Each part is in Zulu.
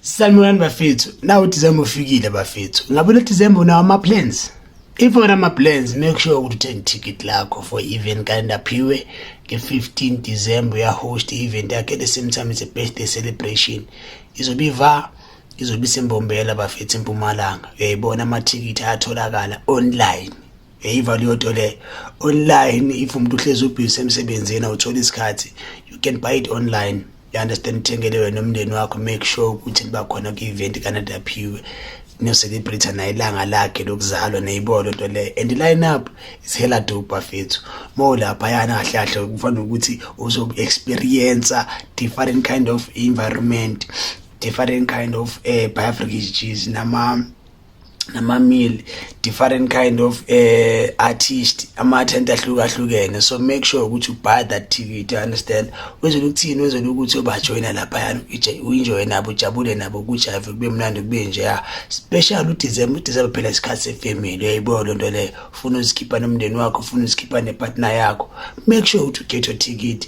Sanibonani bafethu. Nawu December ufikile bafethu. Ngabe le December unawo ama plans? If ora ama plans make sure ukuthi uthenge ticket lakho for event kanda phiwe nge 15 December ya host event yakhe the same time it's a birthday celebration. Izobe iva izobe isembombela bafethu empumalanga. Uyayibona ama ticket ayatholakala online. Hey Valioto le online if umuntu uhlezi ubhizi emsebenzini awuthola isikhathi you can buy it online you understand uthengele wena umndeni wakho make sure ukuthi liba khona kwi-event kanade aphiwe niyocelebrate naye ilanga lakhe lokuzalwa neyibolo nto leyo and i-line up is hela dope bafethu uma ulaphayana kahle kahle kufanele ukuthi uzoku-experiencer different kind of environment different kind of uh, eh, biafric cheese nama nama meal different kind of uh, artist ama tent ahlukahlukene so make sure ukuthi you buy that ticket you understand wezela ukuthini wezela ukuthi ubajoyina lapha yana uenjoy nabo ujabule nabo kujave kube mnandi kube nje ya special u December u December phela isikhathi se family uyayibo lonto le ufuna uzikhipha nomndeni wakho ufuna uzikhipha ne partner yakho make sure ukuthi u get your ticket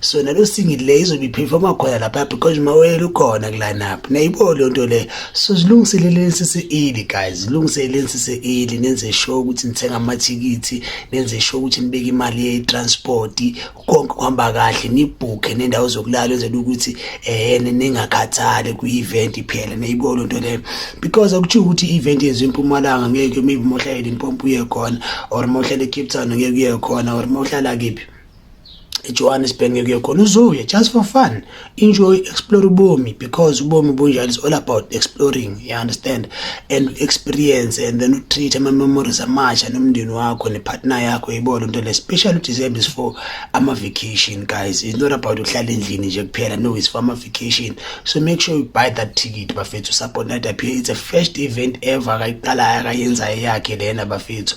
so nalo singili le izobe iperforma khona lapha because mawele ukhona kulanapha nayibo leyo nto le so zilungiseleleni sise-eli guys zilungiseleleni sise-eli nenze sure ukuthi nithenga amathikithi nenze sure ukuthi nibeke imali ye-transport konke kuhamba kahle nibhukhe nendawo zokulala enzela ukuthi um ningakhathali kwi-event iphela nayibo leyo nto leyo because akuthiwa ukuthi i-event yenziwe impumalanga ngeke maybe mohlala limpopo uye khona or mohlala ecape town ngeke uye khona or mohlala kephi ejohannesburg ngekuye khona uzoya just for fun enjoy explore ubomi because ubomi bunjalo is all about exploring you understand and experience and then utreat ama-memories amasha nomndeni wakho nepartner yakho ibona into le special udecember is for ama-vacation guys it's not about ukuhlala endlini nje kuphela no it's for ama-vacation so make sure you buy that ticket bafethu support night appear it's a first event ever akayiqalayo akayenzayo yakhe lena bafethu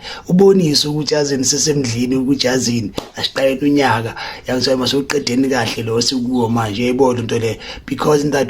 ubonise ukuthi azini sesemdlini ukuthi azini asiqalele unyaka yakuthiwa mase uqedeni kahle lo sikuwo manje yayibona into le because that